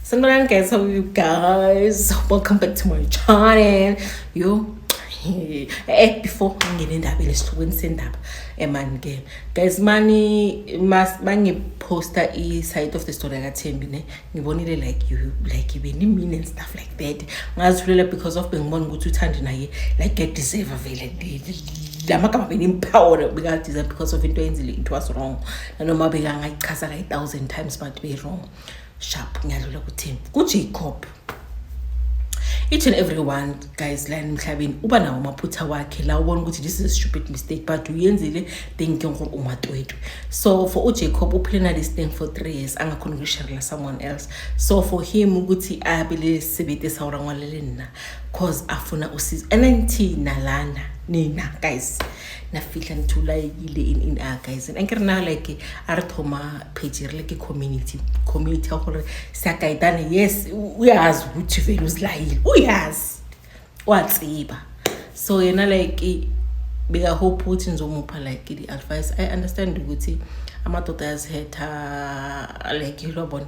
Sanibonani guys, how are you guys? Welcome back to my channel. Yo, eh before ngingena endabeni esihlukweni sendaba emani ke guys mani mas bangiposta i side of the story yakathembi ne ngibonile like you like ibe ni mean and stuff like that ngazithulela because of bengibona ukuthi uthandi naye like get deserve vele lamagama benimphawona bekadeserve because of into eyenzile it was wrong nanoma bekangayichaza kayi-thousand times but be wrong sharp ngiyadlula kuthini kujacob each and everyone guys la emhlabeni uba nawo amaphutha wakhe la ubona ukuthi this is a stupid mistake but uyenzile then ke ngoba umatwetwe so for ujacob uphile na this thing for three years angakhona ukusharela someone else so for him ukuthi abe le sebenzi esawurangwalele nina cause afuna usizo and ngithi nalana nina guys na fitlha ntho laekile in in a guys and ke rena like a re thoma page re le ke community community ya gore sakaitane yes o yazi ukuthi vele uzilayile o yazi wa tseba so yena like beka hope ukuthi ngizomupha like the advice i understand ukuthi amadoda ayazihetha like yilo bona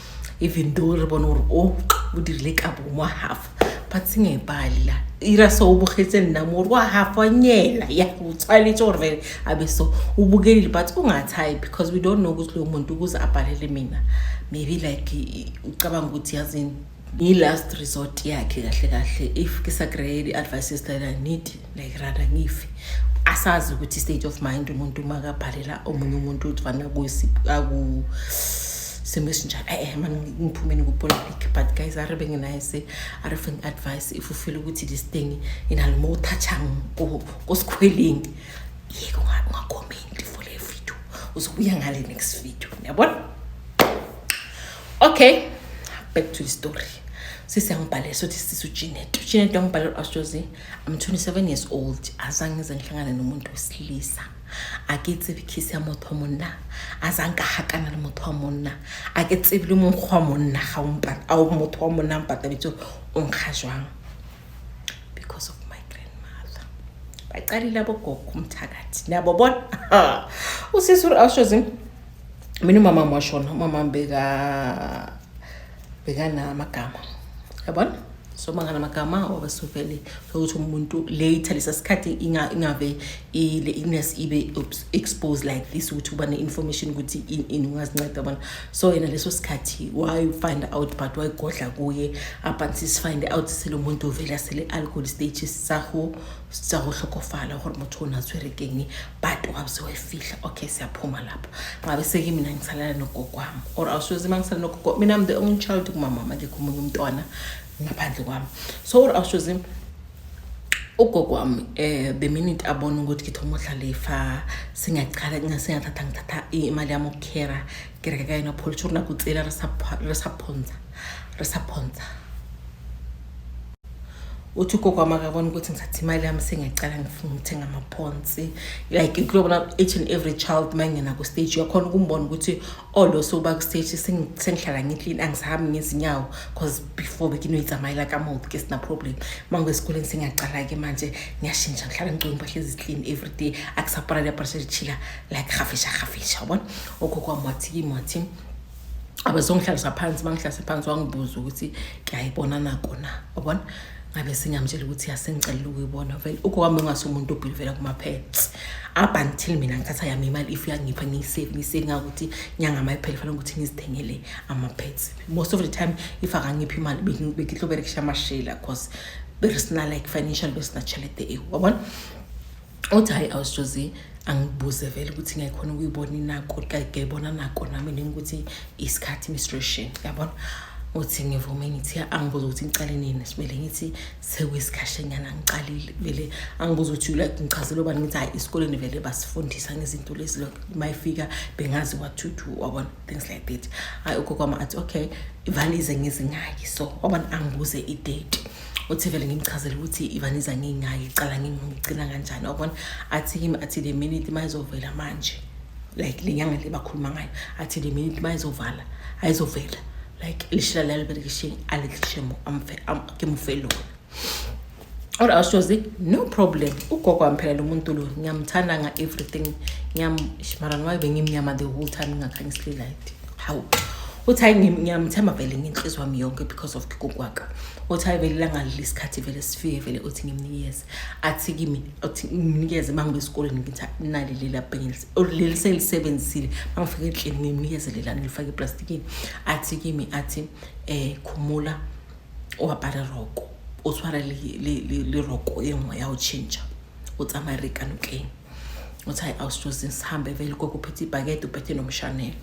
even though re bone gore o o dirile ka bongwa half but senge pali la ira so o bogetse nna mo wa half wa nyela ya o tshwanetse gore vele a be so o bokelile but o nga tshayi because we don't know ukuthi lo muntu ukuze abhalele mina maybe like ucabanga ukuthi yazini i-last resort yakhe kahle kahle if ke sa kry-e di-advices that i need like rather ngife asazi ukuthi state of mind umuntu uma kabhalela omunye umuntu ukuthi fana akusimo esinjalo e-e mani ngiphumeni kupolitic but guys are benginayise are fing advice if ufile ukuthi this thing inalo uma uthatshang kosikhwelini yeke ungakhomenti for le video uzobuya ngale next video niyabona okay back to the story sisi angibhalele sothi sisi ujinet ujinet wangibhalele u-astrozi ah, I'm 27 years old azange ngize ngihlangane nomuntu wesilisa a ke tsebe kiss ya motho wa monna a zang ka hakana le motho wa monna a ke tsebe le mong wa monna ga o mpa a o motho wa monna mpa ta bitso o nkga jwang because of my grandmother ba tsali la bo gogo mthakathi na bo bona u se sure a shozi mina mama mo shona mama mbeka beka na magama yabona so mangana amagama obasuvele sokuthi umuntu later lesa sikhathi ingave i-illness ibe exposed like this ukuthi uba ne-information ukuthi ini ungazinceda abantu so yena leso sikhathi wayifind out but wayigodla kuye abanti sifind out sele umuntu uvele asele-alcohol stage saho tsa go tlhokofala gore motho o ne a tshwere keng but wa bse wa e fitlha okay se a phoma lapho ngabe se ke mina ngisalela nogokwami or awusoze ma ngisalela nogogo mina am the only child kumamama ke komunye umntwana ngaphandle kwami so or awusoze ugogo wami um eh, the minute abona ukuthi ngithoma udlala ifa singaqala singathatha ngithatha imali yami ukukhera ke reka ka yona pholtsho rona ko tsela re sa phontsha re sa phontsha uthi ugogo wami akabona ukuthi ngithatha imali yami sengiyacala ngifuna ukuthenga amaphonsi like kulobona each and every child uma ngingena ku-stage uyakhona ukumbona ukuthi olo oh, soba ku-stage sengihlala ngiklini angisahambi ngezinyawo because before bekinoyitsamayela kamouth ke sina-problem uma ngesikoleni sengiyacala-ke manje ngiyashintsha ngihlala ngigcoke impahla eziklini every day akusaparali aparashe lichila like gafisha gafisha yabona okhokho wami wathi kimi wathi abezongihlalisa phansi bangihlalise phansi wangibuza ukuthi ngiyayibona nako na yabona ngabe singiyamtshela ukuthi yasengicelela ukuyibona vele ugogo wami ongase umuntu obhili vela kuma-pets up until mina ngithatha yami imali if uyangipha ngiyisave ngiyisave ngakuthi nyanga mayiphele fanele ukuthi ngizithengele ama-pets most of the time if akangiphi imali bekihloberekisha amashela because berisina like financial besinachelete ewu wabona uthi hhayi awusjozi angibuze vele ukuthi ngayikhona ukuyibona inako ngayibona nako nami nini ukuthi isikhathi menstruation yabona uthi ngivume ngithi angibuza ukuthi ngicale nini sibele ngithi sekuyisikhashanyana ngiqalile vele angibuza ukuthi like ngichazele ubani ngithi hhayi esikoleni vele basifundisa ngezinto lezi lokho uma ifika bengazi what to do wabona things like that hhayi ugogo wami athi okay ivalize ngizingaki so wabona angibuze idate uthi vele ngimchazele ukuthi ivaniza ngingayi iqala ngingigcina kanjani wabona athi kimi athi le minute uma izovela manje like le nyanga le bakhuluma ngayo athi le minute uma izovala ayizovela like lishila laliberekishini alilishe ngimufe lona or awushozi no problem ugogo wami phela lo muntu lo ngiyamthanda nga-everything ngiyamshimarani wayo bengimnyama the whole time ngingakhanyisilelayithi hawu uthi hayi ngiyamthemba vele ngenhliziyo wami yonke because of kikokwaka uthi hayi vele langalile isikhathi vele sifike vele uthi ngimnikeze athi kimi uthi ngimnikeze uma ngibe esikoleni ngithi nali lela bhengelisi leli selisebenzisile uma ngifike endlini ngimnikeze lelani ngilifake eplastikini athi kimi athi um khumula uwabhala roko utshwara le roko e nngwe ya go change o tsamaya rekanotleng uthi hayi awusijozi sihambe vele gogo uphethe ibhakede uphethe nomshanelo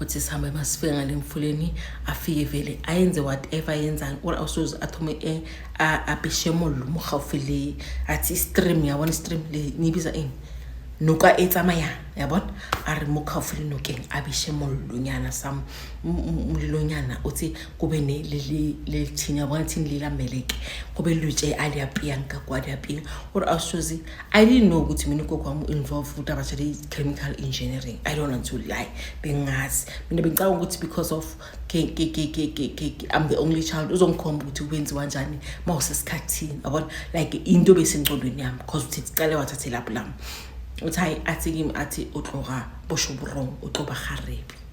uthi sihambe masifike ngale mfuleni afike vele ayenze whatever ayenzani or awusoze athume eh, abheshemo lo mokgaufi le athi istream yabona istream le niyibiza ini noka e tsamayang yabona a re mo kgaufo le nokeng a bese mollonyana some mlilonyana uthi kube lelithini yabona thini lilameleke kube lutshe aliyapiyanka kwaliyapiya kodwa awusuzi i didn't know ukuthi mina ugogo wami u-involve ukuthi abatshele i-chemical engineering i don't want to lie bengazi mina bengicabanga ukuthi because of i'm the only child uzongikhomba ukuthi kwenziwa njani uma usesikhathini yabona like into besengcondweni yami because uthi cale wathathe lapho lami uthi hayi athi kimi athi utlora bosho burong uxoba garebi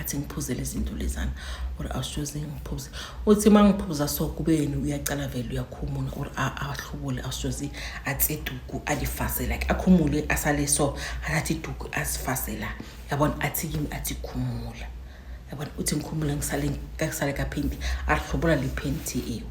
athi ngiphuze lezinto lezana or awusoze ngiphuze uthi uma ngiphuza so kubeni uyacala vele uyakhumula or ahlubule awusoze atse iduku alifase like akhumule asale so athathe iduku azifase la yabona athi kimi athi khumula yabona uthi ngikhumula ngisale kaphenti ahlubula liphenti ewu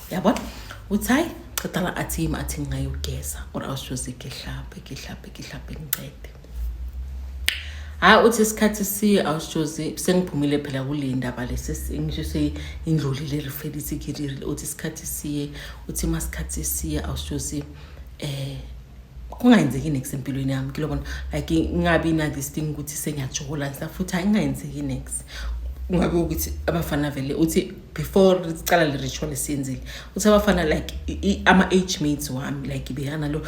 yabona uthi hayi qedala athi yimi athi ngingayogeza or awushoze ngihlabe ngihlabe ngihlabe ngincede hhayi uthi isikhathi siye awushoze sengiphumile phela kule ndaba lesingisho seyindlulile referisi kirile uthi isikhathi siye uthi uma sikhathi siye awushoze um eh, kungayenzeki next empilweni yami kilobona like ingabi na-this thing ukuthi sengiyajola ngisafuthi hhayi ingayenzeki next kungabe ukuthi abafana vele uthi before sicala le ritual esiyenzile uthe abafana like ama-age mates wami like beyana lo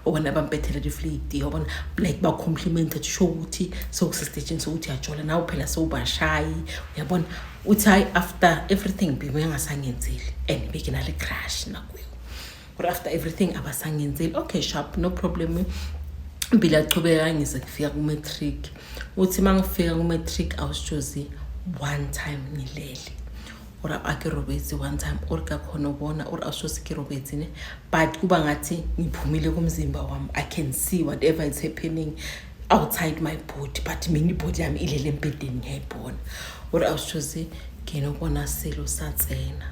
obona bampethele liflidi obona like bacomplimente kusho ukuthi sewusestejini sokuthi yajola nawe phela sewubashayi uyabona uthi hhayi after everything bebengasangenzeli and bekinale crash nakuyo but after everything abasangenzeli okay sharp no problem impilo yachubeka ngize kufika ku-matric uthi uma ngifika ku-matric awusitshozi one time ngilele or ake robetsi one time or kakhona ubona or awushosi ke robetsi ne but kuba ngathi ngiphumile kumzimba wami i can see whatever is happening outside my body but mina ibody yami ilele embhedeni ngiyayibona or awushosi nginokona silo satsena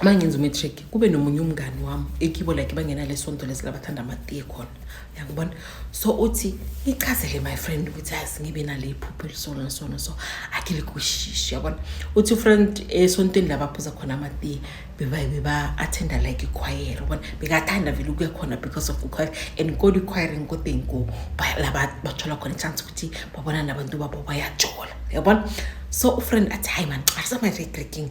uma ngenza umatric kube nomunye umngani wami ekibo like bangenale sonto lezi labathanda amatiye khona yakubona so uthi ngichazele my friend ukuthi yazi ngibe nale phupho elisona nasona so akhe likushishi yabona uthi ufriend esontweni labaphuza khona amatiye bebayibe ba-athenda like ikhwayere ubona bekathanda vele ukuya khona because of ikhwayere and kodwa ikhwayere nkodeni ko la bathola khona ichance ukuthi babona nabantu babo bayajola yabona so ufriend athi hayi mani asamay-regreking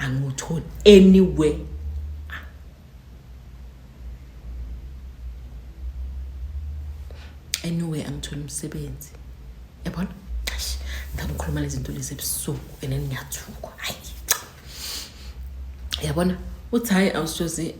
angiwutholi anywhere anywhere angitholi umsebenzi yabona ngikhuluma lezinto lezi ebusuku and ngiyathuka hayi yabona uthi hayi awusoze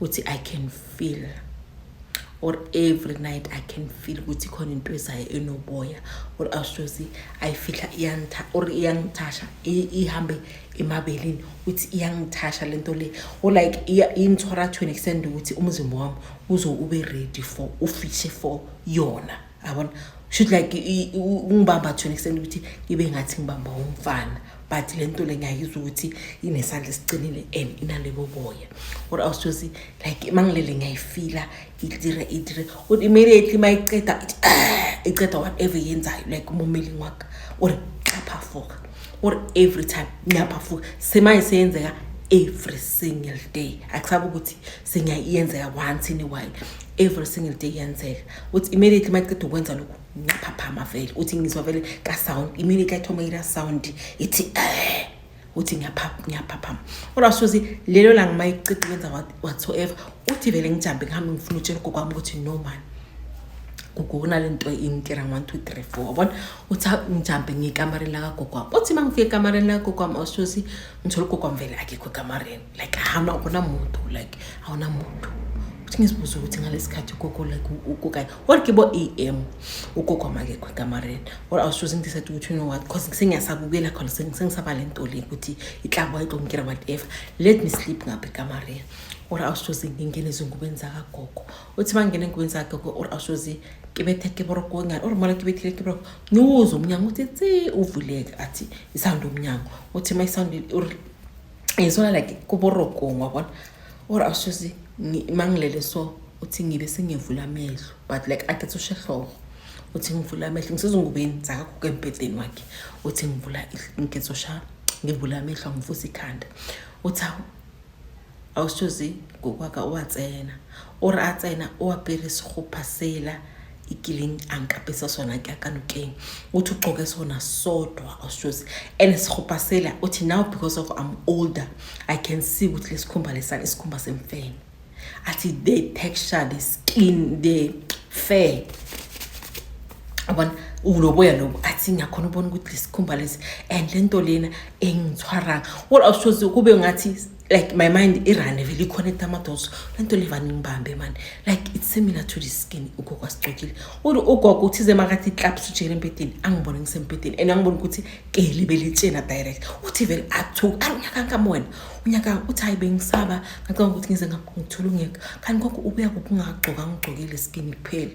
uthi i can feel or every night i can feel ukuthi khona into ezayo enoboya or awusozi ayifihla iyangitha or iyangithasha ihambe emabelini ukuthi iyangithasha lento le or like ingithora to an extent ukuthi umzimba wami uzo ube ready for ufishe for yona yabona should like ungibamba to an extent ukuthi ngibe ngathi ngibamba umfana but le nto le ngiyayizwa ukuthi inesandla esiqinile and inalebo boya or else josi like mangilele ngiyayifila idire idire or immediately mayiceda ah, iceda whatever yenzayo like umumeli ngwakho or xaphafuka or every time ngiyaphafuka semanje seyenzeka every single day akusabe ukuthi sengiyayenzeka once in a while every single day yenzeka uthi immediately uma iceda ukwenza lokhu ngaphaphama vele uthi ngizwa vele kasound immediately athoma ira sound ithi eh uthi ngiyaphaphama kodwa suzi lelo langa uma iceda ukwenza whatsoever uthi vele ngijambe ngihambe ngifuna utshela ugogo wami ukuthi no man kugona le nto ingitira one two three four wabona uthi ngijambe ngiyekamareni lakagogo wami uthi uma ngifika ekamareni lakagogo wami awusuzi ngithole ugogo wami vele akekho ekamareni like hana akuna muntu like awuna muntu futhi ngizibuza ukuthi ngalesikhathi ugogo like ukukanye or ke bo am ugogo amakekho ekamareni or i was choosing this ukuthi you know what because sengiyasabukela khona sengisaba le nto le ukuthi iklabo ayixongikira whatever let me sleep ngapha ekamareni or i was choosing ngingena ezingubeni zakagogo uthi uma ngingena engubeni zakagogo or i was choosing kibethe kiboroko ngani or mona kibethile kiboroko ngiwuze umnyango uthi tsi uvuleke athi isawundi umnyango uthi uma isawundi e swana like ko borokong wa bona ore a sese mangilele so uthi ngibe sengivula amehlo but like ade tsushe hloko uthi ngivula amehlo ngisezingubeni zakaguka embhedeni wakhe uthi ngivula ngizosha ngivula amehlo angivusa ikhanda uthi awu awushozi ngokwaka uwatsena ore atsena uwapere segopha sela ikileng a nkapesa sona ke a ka nokeng o thi o qoke sona sodwa oshozi and sikhopha sela o thi now because of i'm older i can see ukuthi lesikhumba lesana isikhumba semfene athi the texture the skin the fair abona uloboya lobo athi ngiyakhona ubona ukuthi lesikhumba lesi and lento lena engithwaranga well oshozi kube ngathi like my mind irane vele iconnect amadots le nto levane ingibambe mani like it's similar to the skin ugogo asigcokile uthi ugogo uthize makathi iklaps ujele empedeni angibone ngisempedeni and angibone ukuthi keli belitshena direct uthi vele athuka unyaka nkamona unyaka uthi hayi bengisaba ngacabanga ukuthi ngize ngithola ungeka kanti konke ubuya kuphi ungagcoka ngigcokile skin kuphela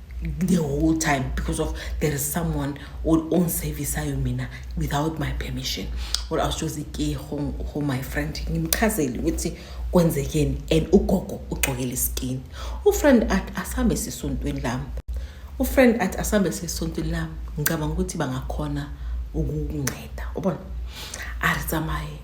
the whole time because of there is someone or own service ayo mina without my permission or i was just ke home home my friend ngimchazeli ukuthi kwenzekeni and ugogo ugcokele skin ufriend at asambe sisontweni lami ufriend at asambe sisontweni lami ngicabanga ukuthi bangakhona ukunceda ubona ari tsamaye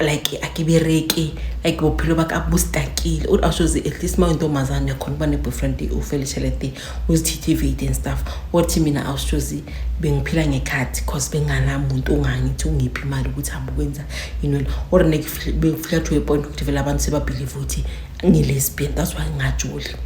like akibereki like bophelo ba ka bo stakile o a shoze at least ma o ntombazane khona uba ne-boyfriend o fele tshelete uzithithivate and stuff wathi mina a shoze bengiphila ngekhathi cause benganamuntu ongangithi ungiphi imali ukuthi hambe ukwenza yinoni or bengifika to a point ukuthi vele abantu sebabhilive ukuthi ngilesbian that's why ngingajoli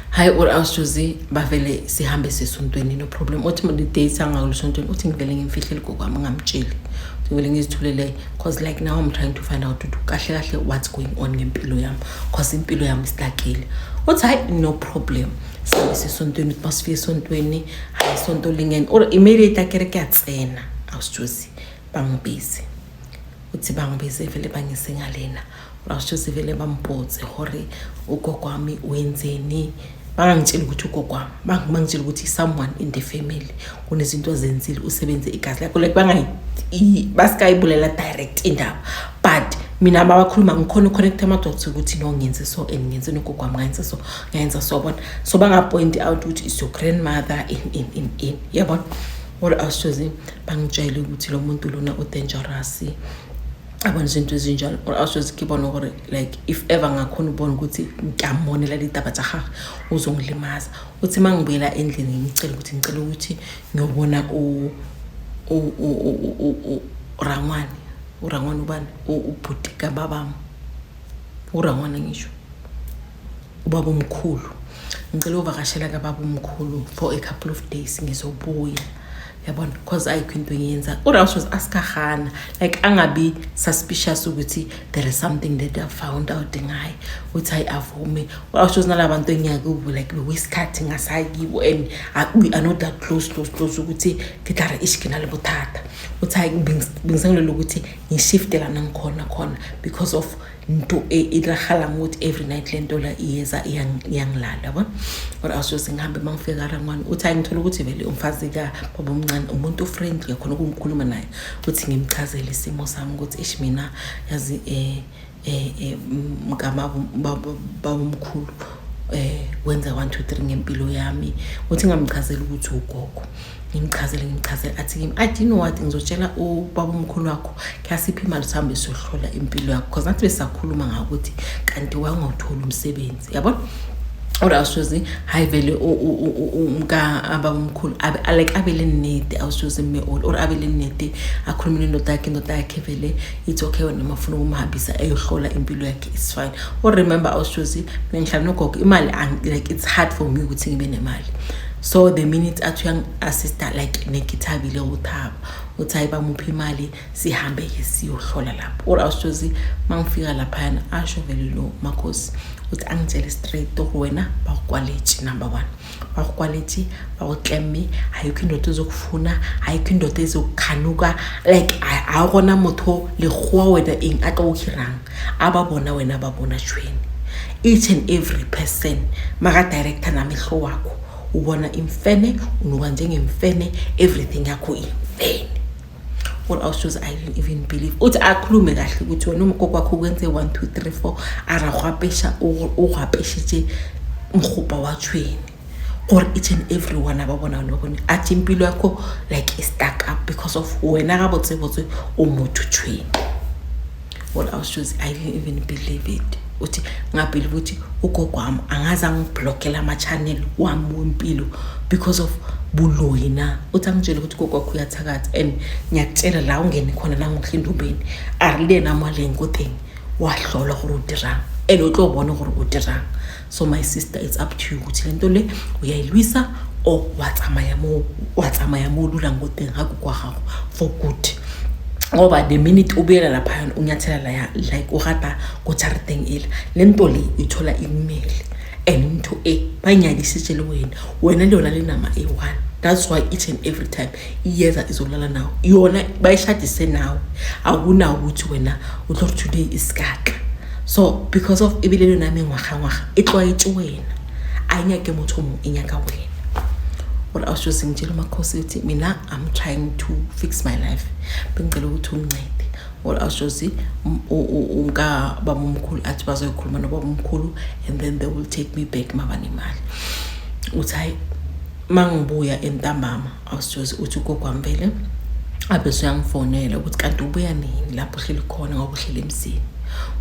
hayi uawusjuzi bavele sihambe sesontweni no problem uthi date angakulisontweni uthi ngivele ngimfihlele kokwami ngamtsheli uthi ngivele ngizithulele cause like now i'm trying to find out ukuthi kahle kahle what's going on ngempilo yami cause impilo yami sidakile uthi hayi no problem sihambe sesontweni uthi masifike esontweni hayi sonto lingene or immediate akere kuyatsena awusjuzi bangibize uthi bangibize vele bangise ngalena Rasho sivele bampotse hore ugogo wami wenzeni bangangitshela ukuthi ugogo wami bangangitshela ukuthi someone in the family kunezinto azenzile usebenze igazi lakho like bangayi basikayibulela direct indaba but mina babakhuluma ngikhona uconnecta amadoda ukuthi no ngenze so and ngenze nogogo wami ngayenze so ngayenza so bona so bangapointi out ukuthi is your grandmother in in in in yabona yeah, or ashozi bangitshele ukuthi lo muntu lona udangerous abona izinto ezinjalo or awuswezi ke bona gore like if ever ngakhona ubona ukuthi ngiyamonela litaba tsa gage o zongilimaza o tse ma ngibuyela endlini ngicela ukuthi ngicela ukuthi ngiyobona urangwane urangwane ubani ubhuti kababam urangwane ngisho ubaba omkhulu ngicela uvakashela kababa omkhulu for a couple of days ngizobuya yabona because ayikho into engiyenza urouse was aska hana like angabi suspicious ukuthi there is something that i found out ngaye ukuthi hayi avume urouse was nala bantu engiyakubo like bewesikhathi ngasayi kibo and we are not that close close close ukuthi ngidlara ishikina libuthatha uthi hayi bengisangilela ukuthi ngishifte lana ngikhona khona because of nto e, e diragalang ukuthi every night le ntola iyeza iyangilala yabo or awusoze ngihambe uma ngifika karangwane uthi hayi ngithola ukuthi vele umfazi ka baba omncane umuntu ofriendly khona ukungikhuluma naye ukuthi ngimchazele isimo sami ukuthi ish mina yazi um eh, eh, eh, mkamababomkhulu um wenza one two three ngempilo yami ukuthi ngamchazela ukuthi ugogo ngimchazele ngimchazele athi kimi i didn't what ngizotshela ubaba omkhulu wakho khasiphi imali sihambe siyohlola impilo yakho because nathi besakhuluma ngakuthi kanti wangawutholi umsebenzi yabona or awusuze hayi vele umka ababa omkhulu like abele nede awusuze mme all or abele nede akhulume nendoda yakhe indoda yakhe vele ithi okay wena mafuna ukumhambisa eyohlola impilo yakhe is fine or remember awusuze mina ngihlala nogogo imali like it's hard for me ukuthi ngibe nemali so the minute athi uyangi-assista like nekithabile uthaba uthi hayi bamuphi imali sihambe-ke siyohlola lapho or awushozi uma ngifika laphayana asho vele lo makhosi uthi angitshele straight tor wena bakukwaleji number one bakukwaleji bakuklemme ayikho indoda ezokufuna ayikho indoda ezokukhanuka like awukona motho legoa wena eng a ka o hirang ababona wena ababona shweni each and every person makadirector namehlo wakho ubona imfene unuka njengemfene everything yakho imfene all our shows i didn't even believe uthi akhulume kahle ukuthi wena umkoko wakho ukwenze 1 2 3 4 aragwapesha urhwapeshitshe mrhubha wachweni or each and everyone ababona nobone athi impilo yakho like istuck up because of wena kabotsebotse umuthutshweni what i was choose i didn't even believe it uthi ngabhelive ukuthi ugogo wami angaze angiblokela ama-channel wami wempilo because of buloyi na uthi angitshele ukuthi ugogo wakho uyathakatha and ngiyakutshela la ungene khona la ngohlindubeni arilena amalenkotheni wahlolwa gore o dirang and o tlo bone gore o dirang so my sister it's up to you ukuthi le nto le uyayilwisa or watsamaya mo watsamaya mo lula ngoteng ha kwa gago for good ngoba the minute ubuyela laphayana unyathela laya like urata kojariteng ele le nto le uyithola imele and into e banyadisitshele wena wena leyona le nama eyi-one that's why each and every time iyeza izolala nawo yona bayishadise nawe akunawo ukuthi wena utlo ri today isikaka so because of ebile le name ngwaga ngwaga e tlwaetse wena a e nyake motho mo e nyaka wena what i was just saying jelo makhosi ukuthi mina i'm trying to fix my life bengicela ukuthi ungincede what i was just saying umka baba omkhulu athi bazoyikhuluma nobaba omkhulu and then they will take me back mabanemali uthi hayi mangibuya entambama awusijozi uthi ugogo wami vele abese uyangifonela ukuthi kanti ubuya nini lapho uhleli khona ngoba uhleli emzini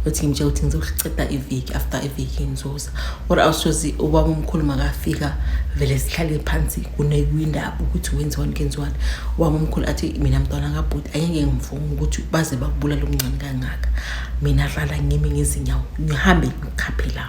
uthi ngimtshela ukuthi ngizoceda iviki after iviki ngizoza or awusozi ubaba omkhulu makafika vele sihlale phansi kunewindaba ukuthi wenziwani kenziwani ubaba omkhulu athi mina mntwana kabhuti ayenge ngivume ukuthi baze bakubulala omncane kangaka mina hlala ngimi ngezinyawo ngihambe ngikhaphe la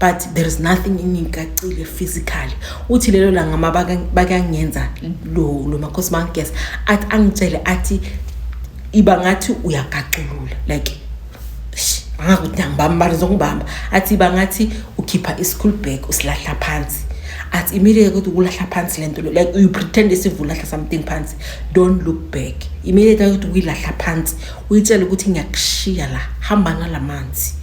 but there is nothing ingikacile physically uthi lelo langa ma bakangenza lo lo makhosi bangigeza athi angitshele athi iba ngathi uyagaculula like angakuthi angibambani zokubamba athi iba ngathi ukhipha i-school bag usilahla phansi athi immediately ukuthi ukulahla phansi lento lo like you pretend isivulahla something phansi don't look back immediately ukuthi uyilahla phansi uyitshela ukuthi ngiyakushiya la hamba ngalamanzi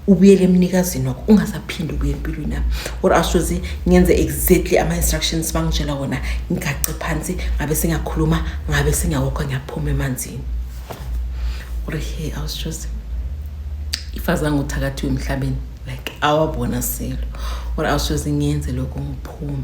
ubuyele emnikazini wakho ungasaphinde ubuye empilweni yami or asuze ngenze exactly ama-instructions bangitshela wona ngigace phansi ngabe singakhuluma ngabe singawokho ngiyaphuma emanzini or he awusuze ifazange uthakathiwe emhlabeni like awabona selo or awusuze ngenze lokho ngiphume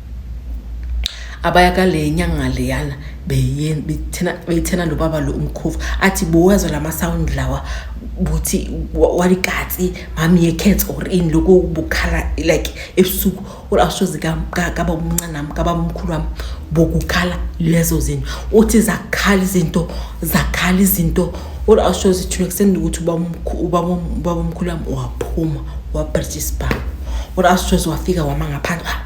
abaya kale nyanga leyana beyithena beyithena lo baba lo umkhovu athi bowazo lama sound lawa buthi walikatsi mami ye cats or in lokho bukhala like ebusuku or ashozi ka ka baba umncane nami ka baba umkhulu wami bokukhala lezo zinto uthi zakhala izinto zakhala izinto or ashozi thina kuseni ukuthi ubaba umkhulu ubaba umkhulu wami waphuma wabritshispa or ashozi wafika wama ngaphandle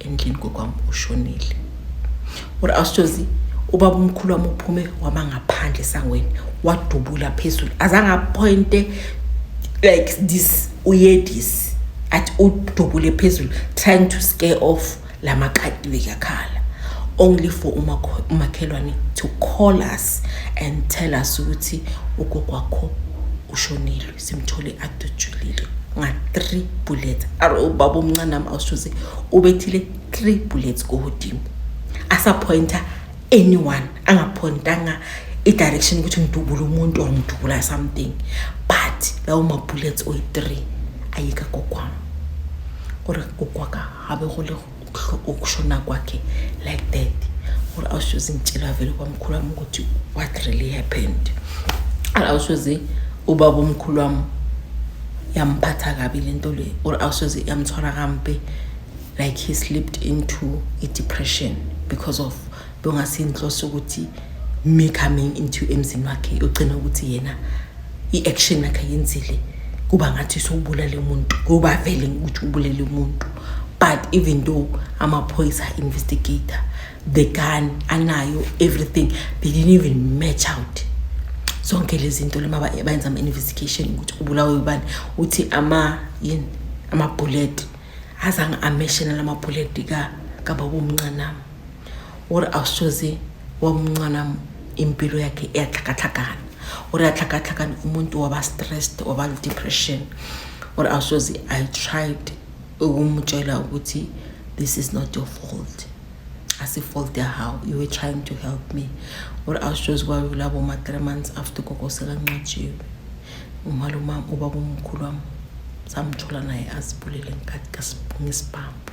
endlini kokwami ushonile uri awusithozi ubaba umkhulu wami uphume wama ngaphandle esangweni wadubula phezulu azange aphointe like this uyedisi athi udubule phezulu trying to scare off la maqadi bekakhala only for umakhelwane to call us and tell us ukuthi ugogo wakho ushonile simthole adutshulile nga-three bullets are ubaba omncane nami awushuze ubethile three bullets kuhudini asaphoyinta anyone angaphoyintanga i-direction ukuthi ngidubule umuntu or ngidubula something but lawo ma-bullets oyi-three ayika kokwam ore kokwaka habe go lego ukushona kwakhe like that or awusoze ngitshela vele kwamkhulu wami ukuthi what really happened awusoze ubaba omkhulu wami yamphatha kabi le nto le or awusoze yamthwala kampe like he slipped into a depression because of bongase inhloso ukuthi me coming into emzini wakhe ugcina ukuthi yena i-action yakhe yenzile kuba ngathi sowubulale umuntu kuba vele ukuthi ubulele umuntu but even though amaphoyisa investigator the gun anayo everything they didn't even match out zonke lezi nto lema bayenza ama-investigation ukuthi ubulawe ubani uthi ama yini amabhuleti azange ameshena la mabhuleti kababa omncanami gore a soze wa mncwana impilo yakhe e a tlhakatlhakana gore a tlhakatlhakane umuntu waba stressed waba depression gore a soze i tried ukumtshela ukuthi this is not your fault as a fault there how you were trying to help me or I was just worried about my three months after Coco Selangachi umaluma ubabumkhulu wam samthola naye azibulele ngesibhambu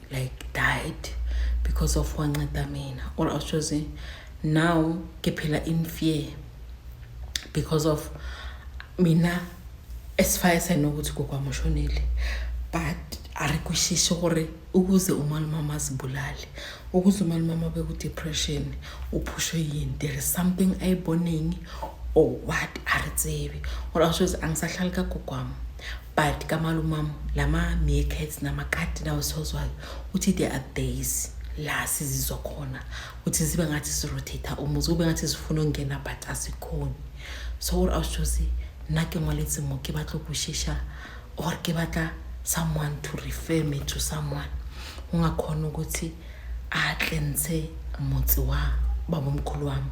like died because of wanceda mina or i was choosing now ngiphila in fear because of mina as far as i know ukuthi kokwamushonile but ari kwishisho gore ukuze umalumama azibulale ukuze umalumama abe ku-depression uphushwe yini there is something ayibonengi or what ari tsebi or asho ukuthi angisahlali kagogwami but kamalumam lama meerkats namakati lawo siwazwayo uthi there are days la sizizwa khona ukuthi zibe ngathi sirotate umuzi kube ngathi zifuna ukungena but asikhoni so ore a sitshose nna ke ngwaletse mo ke batla go shesha or ke batla someone to refer me to someone ungakhona ukuthi atle ntshe motse wa babomkhulu wami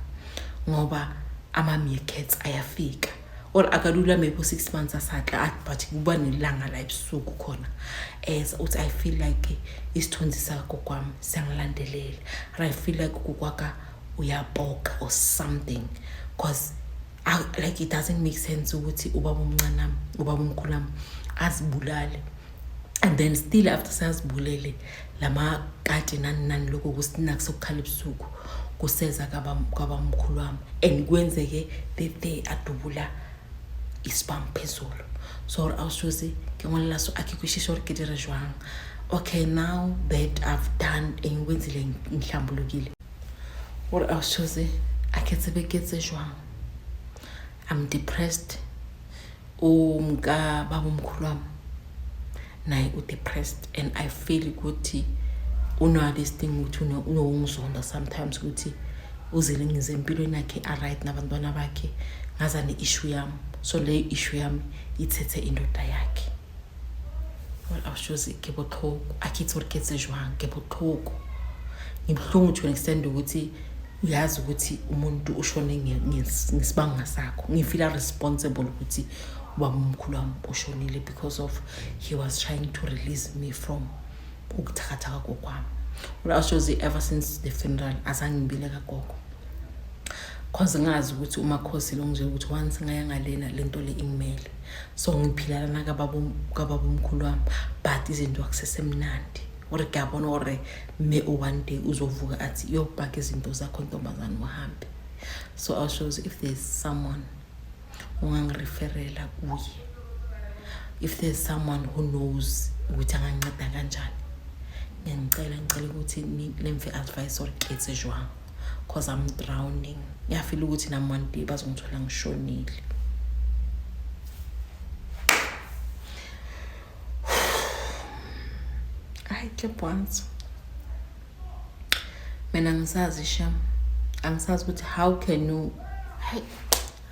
ngoba ama-meerkats ayafika or akalula maybe u-six months asatla athi but kuba nelanga la ebusuku khona as uthi i feel like isithunzi sakokwam siyangilandelela or i feel like kukwaka uyapoka or something because like it doesn't make sense ukuthi ubaba omncanami ubaba omkhulami azibulale and then still after sazibulele lama kati nani nani lokho kusina kusokukhala ebusuku kuseza kwabamkhulu wami and kwenzeke the day adubula isibam phezulu so gore a o sose ke ngwalela so a ke kwešiše gore ke dire jwang okay now that i've done eng kwenzile ngihlambulukile gore a o sose a ke tsebe ke tse jwang i'm depressed umka baba omkhulu wami naye u-depressed and i feel ukuthi unale sting ukuthi unowungizonda sometimes ukuthi uzile ngize empilweni yakhe aright nabantwana bakhe ngaza ne-issue yami so le issue yami ithethe indoda yakhe well awushozi ke botlhoko akhithi or ketse jwang ke botlhoko ngibuhlungu to an extent ukuthi uyazi ukuthi umuntu ushone ngesibanga sakho ngifila responsible ukuthi ubaba omkhulu wami ushonile because of he was trying to release me from ukuthakathaka kokwami ulashozi ever since the funeral azangibile kagogo cause ngazi ukuthi umakhosi lo nje ukuthi once ngaya ngalena le nto le ingimele so ngiphilalana kababa omkhulu wami but izinto akusesemnandi ore kuyabona ore me o one day uzovuka athi yobhaka izinto zakho ntombazane uhambe so i shows if there's someone ongangireferela kuye if there's someone who knows ukuthi anganceda kanjani ngiyangicela ngicela ukuthi lemve advice or ketse jwang cause i'm drowning ngiyafila ukuthi nam one day bazongithola ngishonile Ay, qué bonito. Mina ngisazi shem. Angisazi ukuthi how can you Hey,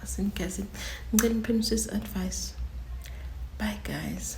asingikhathi. Ngicela ngiphinde sis advice. Bye guys.